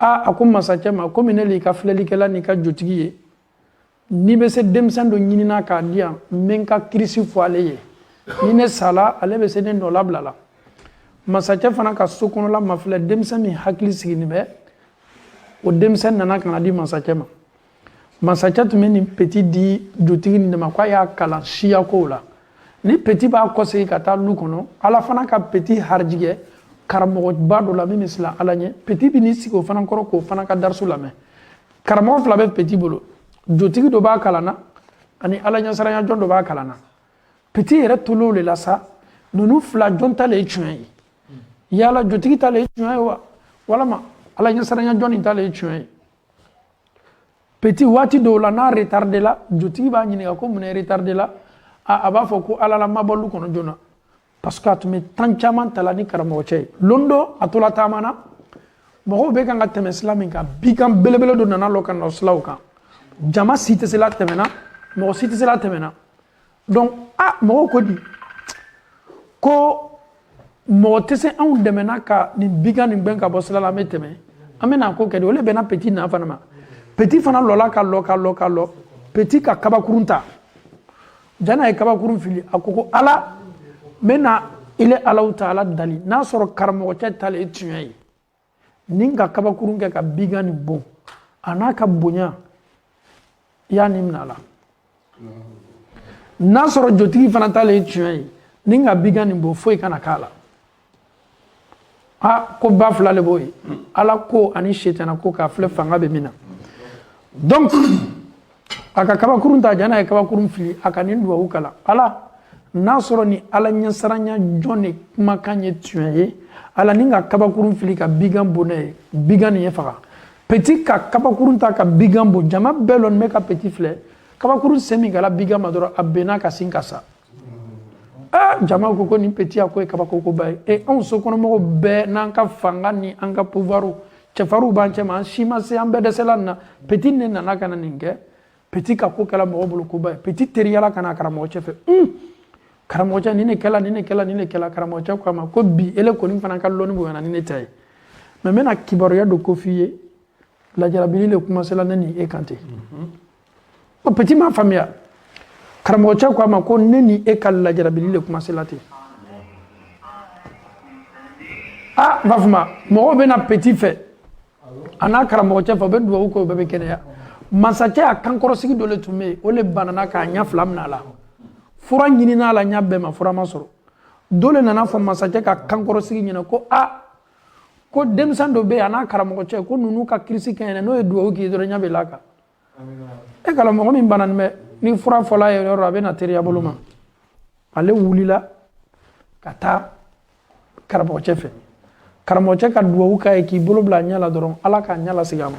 aa a ko masacɛ ma komi ne l'i ka filɛlikɛla n'i ka jotigi ye n'i bɛ se denmisɛn dɔ ɲinina k'a di yan n bɛ n ka kirisi fɔ ale ye ni ne sala ale bɛ se ne nɔ labila la masacɛ fana ka so kɔnɔla mafilɛ denmisɛn min hakili siginin bɛ o denmisɛn nana ka na di masacɛ ma masacɛ tun bɛ nin peti di jotigi nin de ma k'a y'a kalan siyakow la ni peti b'a kɔsegin ka taa lu kɔnɔ ala fana ka peti harijigɛ karamɔgɔba dɔ la min bɛ siran ala ɲɛ peti bɛ n'i sigi o fana kɔrɔ k'o fana ka darisu lamɛn karamɔgɔ fila bɛ peti bolo jotigi dɔ b'a kalan na ani ala ɲɛsiranyajɔn dɔ b'a kalan na peti yɛrɛ tol'o le la sa ninnu fila jɔn ta le ye tiɲɛ ye yala jotigi ta le ye tiɲɛ ye wa walama ala ɲɛsiranyajɔn nin ta le ye tiɲɛ ye peti waati dɔw la n'a retardé la jotigi b'a ɲininka ko mun retardé la a b'a fɔ ko ale le ma bɔ lu kɔnɔ joona parce que a tun bɛ temps caman ta la ni karamɔgɔ cɛ ye lon dɔ a tola taama na mɔgɔw bɛ kan ka tɛmɛ sila min kan bigan belebele dɔ nana lɔ ka na silaw kan jama si tɛ se la tɛmɛna mɔgɔ si tɛ se la tɛmɛna donc a ah, mɔgɔw ko di ko mɔgɔ tɛ se anw dɛmɛna ka nin bigan nin gbɛn ka bɔ sila la an bɛ tɛmɛ an bɛ n'a ko kɛ di o le bɛnna peti na fana ma peti fana lɔla ka lɔ ka lɔ ka lɔ peti ka kabakurun ta jan'a ye kabakurun fili a ko ko ala n bɛ na ile alahu taala dali n'a sɔrɔ karamɔgɔcɛ ta le ye tiɲɛ ye ni n ka kabakurun kɛ ka bigan nin bon a n'a ka bonya i y'a ni minɛ a la n'a sɔrɔ jotigi fana ta le ye tiɲɛ ye ni n ka bigan nin bon foyi kana k'a la a ko ba fila le b'o ye ala ko ani setana ko k'a filɛ fanga bɛ min na donc a ka kabakurun ta jan'a ye kabakurun fili a ka nin duwawu kalan ala n'a sɔrɔ ni ala ɲɛsiranyajɔn de kumakan ye tiɲɛ ye ala ni n ka kabakurun fili ka bigan bon ne ye bigan nin ye faga peti ka kabakurun ta ka bigan bon jama bɛɛ lɔnin bɛ ka peti filɛ kabakurun se min kɛla bigan ma dɔrɔn a benna ka sin ka sa aa jama ko ko nin petit a ko ye kabakoba ye e anw sokɔnɔmɔgɔw bɛɛ n'an ka fanga ni an ka pouvoirw cɛfarinw b'an cɛma an si ma se an bɛɛ dɛsɛla nin na petit ne nana ka na nin kɛ petit ka ko kɛla mɔgɔ bolo koba ye petit teriyala ka na karamɔgɔ cɛ fɛ un karamɔgɔ cɛ nin ne kɛla nin ne kɛla nin ne kɛla karamɔgɔ cɛ ko a ma ko bi ele kɔni fana ka lɔnni bonyana ni ne ta ye mais n bɛna kibaruya dɔ ko f'i ye lajarabili le kuma sela ne ni e kan ten ko petit m'a faamuya karamɔgɔ cɛ ko a ma ko ne ni e ka lajarabili le kuma sela ten a n b'a fɔ ma mɔgɔw bɛ na petit fɛ a n'a karamɔgɔ cɛ fɛ u bɛ dugawu kɛ u bɛɛ bɛ kɛnɛya masakɛ a kankɔrɔsigi dɔ le tun bɛ yen o le banana k'a ɲɛ fila minɛ a la fura ɲininna a la ɲɛ bɛɛ ma fura ma sɔrɔ dɔ le nan'a fɔ masakɛ ka kankɔrɔsigi ɲɛna ko a ko denmisɛn dɔ bɛ yen a n'a karamɔgɔ cɛ ko ninnu ka kirisi kɛɲɛna n'o ye dugawu k'i ye dɔrɔn ɲɛ bɛ laka e k'a lɔn mɔgɔ min bananin bɛ ni fura fɔl'a ye yɔrɔ a bɛ na teriya bolo ma ale wulila ka taa karamɔgɔcɛ fɛ karamɔgɔcɛ ka duwawu k'a ye k'i bolo bila a ɲɛ la dɔrɔn ala k'a ɲɛ lasegin a ma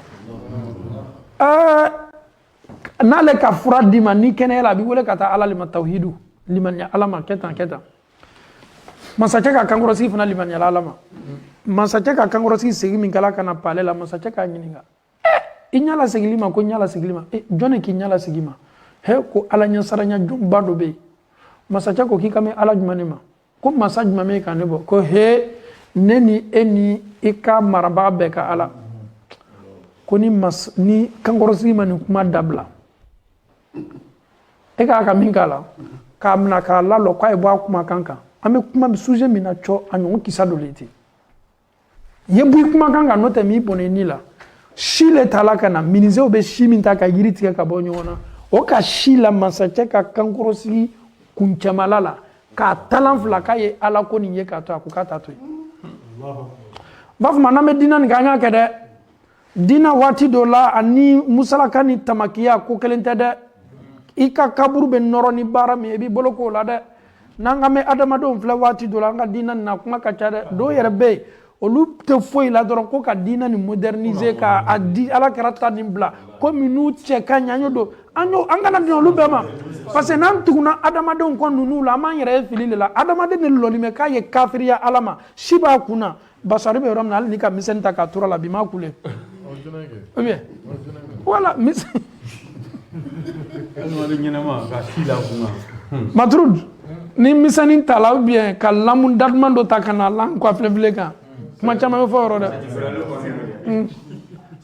n'ale ka fura d'i ma n'i kɛnɛyala a b'i wele ka taa ala le ma tawhidu limaniya ala ma kɛ tan kɛ tan masakɛ ka kankɔrɔsigi fana limaniyala ala ma masakɛ ka kankɔrɔsigi segin min kɛla ka na palais la masakɛ k'a ɲininka i ɲa lasegil'i ma ko ɲa lasegil'i ma e, jɔni k'i ɲa lasegi i ma he ko ala ɲɛsaranya jɔnba dɔ bɛ yen masakɛ ko k'i ka mɛn ala jumɛn ne ma ko masa jumɛn bɛ ka ne bɔ ko he ne ni e ni i ka marabaga bɛɛ ka ala ko ni mas ni kankɔrɔsigi ma nin kuma dabila e k'a ka min k'a la k'a minɛ k'a lalɔ k'a ye bɔ a kumakan kan an bɛ kuma sujet min na cɔ a ɲɔgɔn kisa dɔ le ten ye bɔ i kumakan kan n'o tɛ n b'i bɔnɛ ni la si le tala ka na minizew bɛ si min ta ka yiri tigɛ ka bɔ ɲɔgɔn na o ka si la masakɛ ka kankɔrɔsigi kuncɛmala la k'a talan fila k'a ye ala ko nin ye k'a to a ko k'a t'a to yen n b'a fɔ ma n'an bɛ diinɛ nin kɛ an y'a kɛ dɛ dina waati dɔ la ani musalaka ni tamakiya ko kelen tɛ dɛ i ka kaburu bɛ nɔrɔ ni baara min ye i b'i bolo k'o la dɛ n'an ka mɛn adamadenw filɛ waati dɔ la an ka diinɛ nin na kuma ka ca dɛ dɔw yɛrɛ bɛ yen olu tɛ foyi la dɔrɔn ko ka diinɛ nin moderniser ka a di alakira ta nin bila ko minnu cɛ ka ɲi an y'o don an y'o an kana bin olu bɛɛ ma parce que n'an tugunna adamadenw kɔ ninnu la an b'an yɛrɛ ye fili de la adamaden de lɔnin bɛ k'a ye kafiriya ala ma si b'a kun na basari bɛ yɔrɔ min na hali n'i ka misɛnni ta k'a tur'a la bi m'a kule ou bien voilà misɛn maturud ni misɛnni tala ou bien ka lamu daduman dɔ ta ka na l'an kɔ filɛfilɛ kan kuma caman bɛ fɔ o yɔrɔ dɛ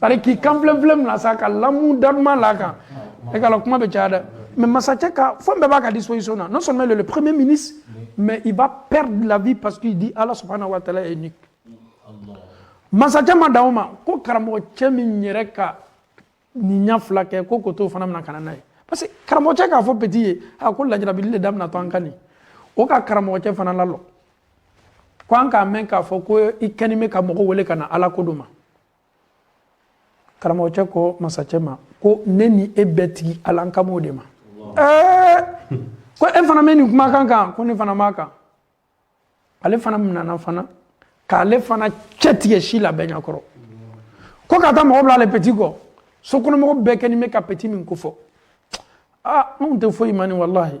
c'est à dire k'i kan filɛfilɛ mina sa ka lamu daduman l'a kan e k'a lɔn kuma bɛ caya dɛ mais masakɛ ka fɛn bɛɛ b'a ka disposition na non seulement le premier ministre mais il va perdre la vie parce qu'il dit Allah subhanahu wa ta'ala est unique. Masakɛ ma dan o ma ko karamɔgɔ cɛ min yɛrɛ ka nin ɲɛ filakɛ ko k'o t'o fana mina ka na n'a ye parce que karamɔgɔ cɛ k'a fɔ petit ye a ko lajarabili le daminatɔ an kan nin o ka karamɔgɔ cɛ fana lalɔ ko an k'a mɛn k'a fɔ ko i kɛnin bɛ ka mɔgɔ wele ka na ala ko dɔ ma karamɔgɔcɛ ko masacɛ ma ko ne ni e bɛɛ tigi ala an kan b'o de ma ɛɛ ko e fana bɛ nin kumakan kan ko ne fana b'a kan ale fana minana fana k'ale fana cɛ tigɛ si la bɛɛ ɲɛkɔrɔ ko ka taa mɔgɔ bila ale peti kɔ sokɔnɔmɔgɔ bɛɛ kɛ ni bɛ ka peti min ko fɔ aa anw tɛ foyi ma nin walahi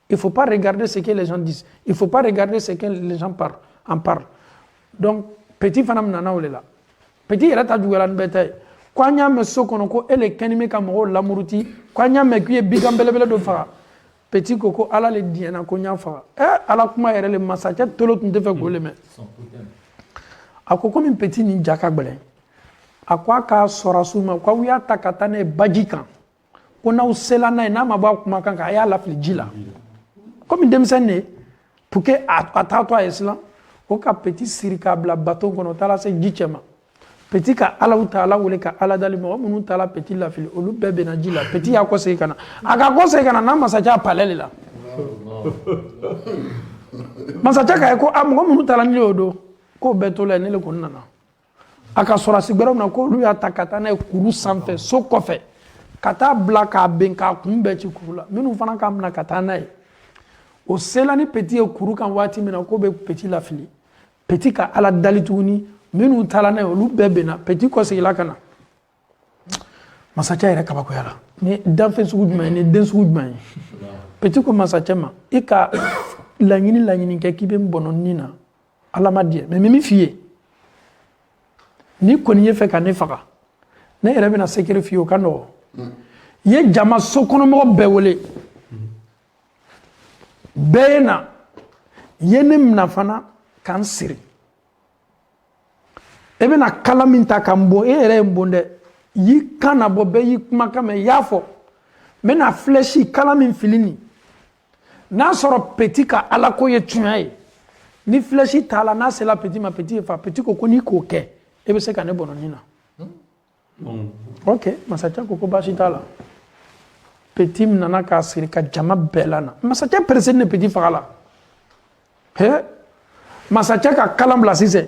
Il ne faut pas regarder ce que les gens disent. Il ne faut pas regarder ce que les gens parlent, en parlent. Donc, petit fana minana o de la petit yɛrɛ ta juguyara ni bɛɛ ta ye ko an y'a mɛn so kɔnɔ ko e le kɛni bɛ ka mɔgɔw lamuruti ko an y'a mɛn k'i ye bigan belebele dɔ faga petit ko ko ala le diɲɛna ko n y'a faga ɛ eh, ala kuma yɛrɛ le masakɛ tolo tun tɛ fɛ k'o le mɛn a ko komi petit nin ja ka gɛlɛn a ko a ka sɔrɔsiw ma k'aw y'a ta ka taa n'a ye baji kan ko n'aw sela n'a ye n'a ma bɔ a kumakan kan a y'a lafili ji la komi denmisɛnnin de ye pour que a t'a to a ye silan o ka peti siri k'a bila bato kɔnɔ o taara se ji cɛ ma peti ka alahu taala wele ka ala dali mɔgɔ minnu taara peti lafili olu bɛɛ benna ji la peti y'a kɔsegin ka na a k'a kɔsegin ka na n'a masakɛ a palɛ de la masakɛ k'a ye ko a mɔgɔ minnu taara n'i y'o don k'o bɛɛ tola ne le kɔni nana a ka sɔrɔsi gbɛrɛw na k'olu y'a ta ka taa n'a ye kuru sanfɛ so kɔfɛ ka taa bila k'a ben k'a kun bɛɛ ci kuru la ninnu fana k'a minɛ ka taa n'a ye o sela ni peti ye kuru kan waati min na k'o bɛ peti lafili peti ka ala dali tuguni minnu taara n'a ye olu bɛɛ benna peti kɔsegila ka na masacɛ yɛrɛ kabakoyala nin danfɛn sugu jumɛn nin den sugu jumɛn ye peti ko masacɛ ma i ka laɲini laɲini kɛ k'i bɛ n bɔnɔ ni na ala ma diɲɛ mɛ n bɛ min f'i ye n'i kɔni ye fɛ ka ne faga ne yɛrɛ bɛna sekere f'i ye o ka nɔgɔ i ye jama sokɔnɔmɔgɔ bɛɛ wele bɛɛ ye na i ye ne mina fana ka n siri e bɛna kala min ta ka n bon e yɛrɛ ye n bon dɛ y'i kan nabɔ bɛɛ y'i kumakan mɛn i y'a fɔ n bɛna filɛsi kala min fili nin n'a sɔrɔ peti ka alako ye tiɲɛ ye ni filɛsi taala n'a sera peti ma peti ye fa peti ko ko n'i k'o kɛ e bɛ se ka ne bɔnɔ nin na hmm. ok masakɛ ko ko baasi t'a la peti minana k'a siri ka jama bɛɛ lana masakɛ peresenin peti faga la he masakɛ ka kalan bila sisan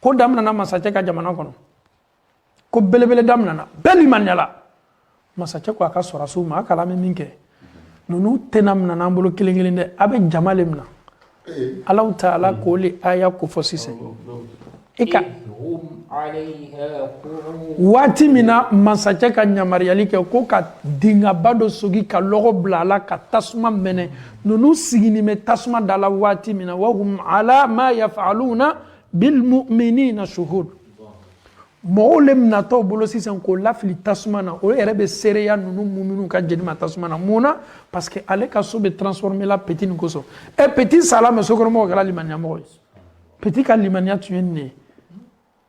ko daminana masakɛ ka jamana kɔnɔ ko belebele daminana bɛɛ limanyala masakɛ ko a ka sɔrɔsiw ma a k'a lɔn an bɛ min kɛ ninnu tɛna minana an bolo kelen kelen dɛ a bɛ jama le mina alahu taala k'o le aya ko fɔ sisan i ka waati min na masakɛ ka yamaruyali kɛ ko ka dingaba dɔ sogi ka lɔgɔ bila a la ka tasuma mɛnɛ ninnu siginin bɛ tasuma da la waati min na wahum ala ma yafaluna bil mu'minina shuhud mɔgɔw le minatɔ bolo sisan k'o lafili tasuma na o yɛrɛ bɛ seereya ninnu muminu ka jeni ma tasuma na mun na parce que ale ka so bɛ transformer la petit nin kosɔn ɛ petit sala mais sokɔnɔmɔgɔw kɛra limaniya mɔgɔ ye petit ka limaniya tun ye nin de ye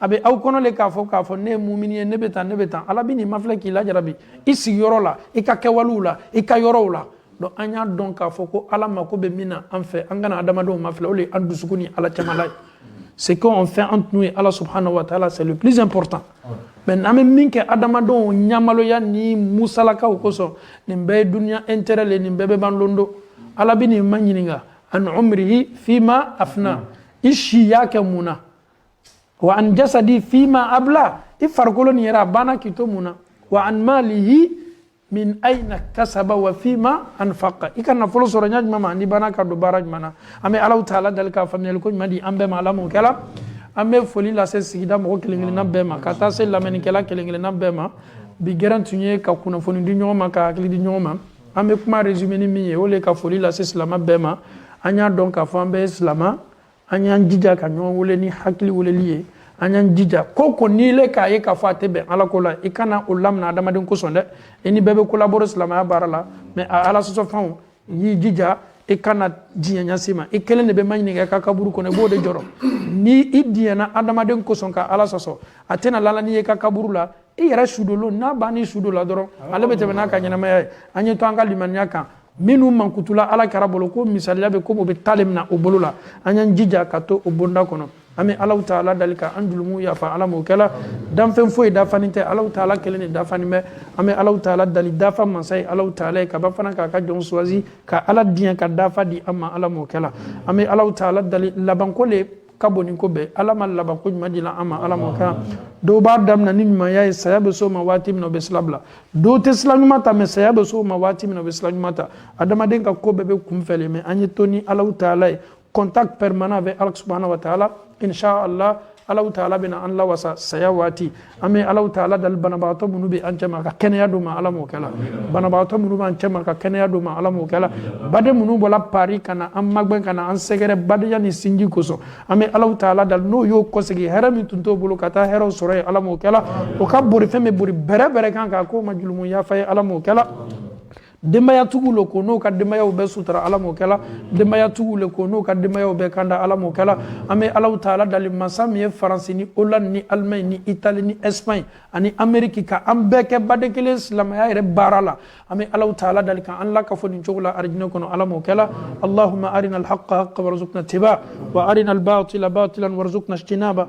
a bɛ aw kɔnɔ le k'a fɔ k'a fɔ ne ye mumini ye ne bɛ tan ne bɛ tan ala bɛn'i mafilɛ k'i lajarabi i sigiyɔrɔ la i ka kɛwalew la i ka yɔrɔw la donc an y'a dɔn k'a fɔ ko ala mako bɛ min na an fɛ an kana adamadenw mafilɛ o de ye an dusukun ni ala cɛmala ye ce qu'on fait entre nous et ala subhanahu wa taala c'est le plus important mais n'an bɛ min kɛ adamadenw ɲamaloya ni musalakaw kosɔn nin bɛɛ ye duniya intérêt le nin bɛɛ bɛ ban lon dɔ ala bɛn'i maɲininka an umrihi fima afna i si y'a kɛ mun na wa an jasadi fima abla i farikolo nin yɛrɛ a banna k'i to mun na wa an malihi min aina kasaba wa fima anfaqa i ka nafolo sɔrɔ ɲa jumɛn ma n'i banna k'a don baara jumɛn na an bɛ alahu taala dali ka faamuyali ko ɲuman di an bɛɛ ma ala m'o kɛla an bɛ foli lase sigida mɔgɔ kelen kelenna bɛɛ ma ka taa se lamɛnnikɛla kelen kelenna bɛɛ ma bi gɛrɛn tun ye ka kunnafoni di ɲɔgɔn ma ka hakili di ɲɔgɔn ma an bɛ kuma résumé ni min ye o le ka foli lase silama bɛɛ ma an y'a dɔn k'a fɔ an bɛɛ ye silama an y'an jija ka ɲɔgɔn wele ni hakili weleli ye an y'an jija ko o ko n'ile k'a ye k'a fɔ a tɛ bɛn ala ko la i kana o lamina adamaden kosɔn dɛ i ni bɛɛ bɛ collaborer silamɛya baara la mais a ala sɔsɔfɛnw y'i jija i kana diɲɛ ɲa si ma i kelen de bɛ maɲininka i ka kaburu kɔnɔ i b'o de jɔrɔ ni i diɲɛna adamaden kosɔn ka ala sɔsɔ a tɛna lala n'i ye i ka kaburu la i yɛrɛ sudon lon n'a bann'i sudon la dɔrɔn ale bɛ tɛmɛ n'a ka ɲɛnamaya ye an ye to an ka limaniya kan minnu mankutula ala kɛra bolo ko misaliya bɛ ko o bɛ taale mina o bolo la an y'an jija ka to o bonda kɔnɔ an bɛ alahu taala dali ka an julumuw yafa ala m'o kɛ la danfɛn foyi dafanin tɛ alahu taala kelen de dafanin bɛ an bɛ alahu taala dali dafa masa ye alahu taala ye ka ban fana k'a ka jɔn choisi ka ala diɲɛ ka dafa di an ma ala m'o kɛ la an bɛ alahu taala dali labanko le ka bon ni ko bɛɛ ala ma labanko ɲuman di la an ma ala m'o kɛ la dɔw b'a daminɛ ni ɲumanya ye saya bɛ s'o ma waati min na o bɛ sila bila dɔw tɛ sila ɲuman ta mais saya bɛ s'o ma waati min na o bɛ sila ɲuman ta adamaden ka ko bɛɛ bɛ kunfɛ le mais an ye to ni alahu taala ye contact permanent avec ala subahana wa taala inshallah alahu taala bɛna an lawasa saya waati an bɛ alahu taala dali banabagatɔ minnu bɛ an cɛma ka kɛnɛya d'o ma ala m'o kɛ la banabagatɔ minnu b'an cɛma ka kɛnɛya d'o ma ala m'o kɛ la baden minnu bɔra paris ka na an magɛn ka na an sɛgɛrɛ badenya ni sinji kosɔn an bɛ alahu taala dali n'o y'o kɔsegi hɛrɛ min tun t'o bolo ka taa hɛrɛ o sɔrɔ yen ala m'o kɛ la o ka borifɛn bɛ bori bɛrɛ bɛrɛ kan k'a k'o ma julumu yafa ye ala m'o kɛ la denbayatigiw ala k'o n'o ka denbayaw bɛɛ sutura ala m'o kɛla denbayatigiw ala k'o n'o ka denbayaw bɛɛ kanda ala m'o kɛla an bɛ allahu taala dali masa min ye faransi ni hollande ni allemagne ni italie ni espagne ani ameriki ka an bɛɛ kɛ baden kelen silamaya yɛrɛ baara la an bɛ allahu taala dali ka an lakafo nin cogo la arijinɛ kɔnɔ ala m'o kɛla allahuma arina alhaqa haqan warzuqna tiba wa arina albatila batilan warzuqna ijtinaba